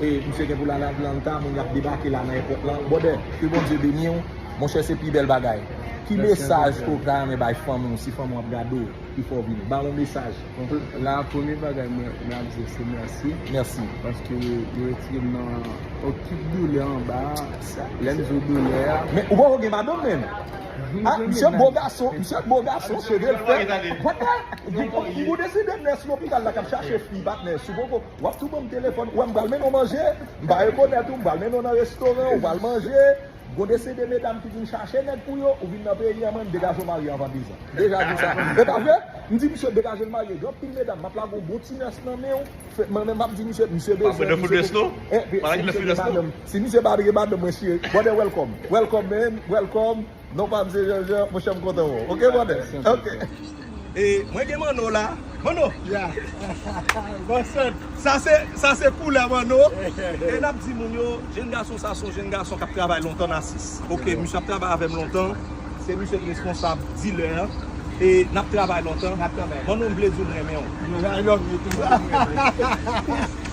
Misye gen pou l al Atlanta, moun yap debake la nan èpòt lan. Brother, ke Bondye beni w. Monchè se pi bèl bagay. Ki mesaj ke w ta renmen bay fanmi w si fanmi w ap gade w pi fò vini? Ba yon mesaj. La a premye bagay mwen ap di yo se mèsi. Mèsi. Paske yo retire m nan tout doulè anba a. Lè m di w doulè a. Men ou poko gen madanm menm? A, misye bo gason, misye bo gason, cheve l fèt. Ou poko gen madanm? Ou deside nè sou lopital la k ap chache fi patnè si w poko. Wap tou banm telefòn, wèm pral mennen w manje, m pa rekonèt ou, m pral mennen w nan restoran, ou pral manje, gon de se de medam ki vin chache nèg pou yo, ou vin nan peyi an man, degaje w marye anvan 2 zan. M deja di sa. E pa vre? M di misye degaje l marye, gen yon pil medam map lage yon bon ti nurse nan men w, fè, mwen menm map di misye, misye bezwen, misye pou, eh, si misye pa gen madanm, si misye pa gen madanm mwen chire, brother welcome, welcome man, welcome. Non pa msye Jean Jean monchè m kontan wè w ok brother ok. E mwen gen manno la manno. Ya bon sèt. Sa se sa se koulè manno e nap di moun yo jenn gason sa son jenn gason kap travay lontan nan asis ok misye ap travay avèm lontan se misye ki responsab dilè an e nap travay lontan manno m vle di w m renmen w. I love you tou.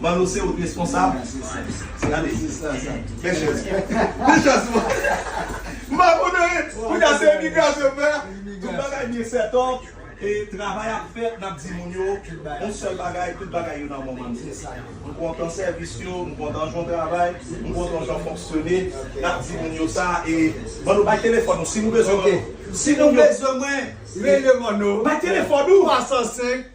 Manno se ou k responsab. Gade Bel chèz Bel chèz M pa konnen Kounya se imigrasyon m fè Tout bagay byen sètòp E travay ap fèt N ap di moun yo Yon sèl bagay Tout bagay yo nan moman l M kontan sèvis yo M kontan jan w travay M kontan jan w fonksyone N ap di moun yo sa E Manno bay telefòn ou Si nou bezwen Manno Si nou bezwen mwen Rele Manno Bay telefòn ou 305.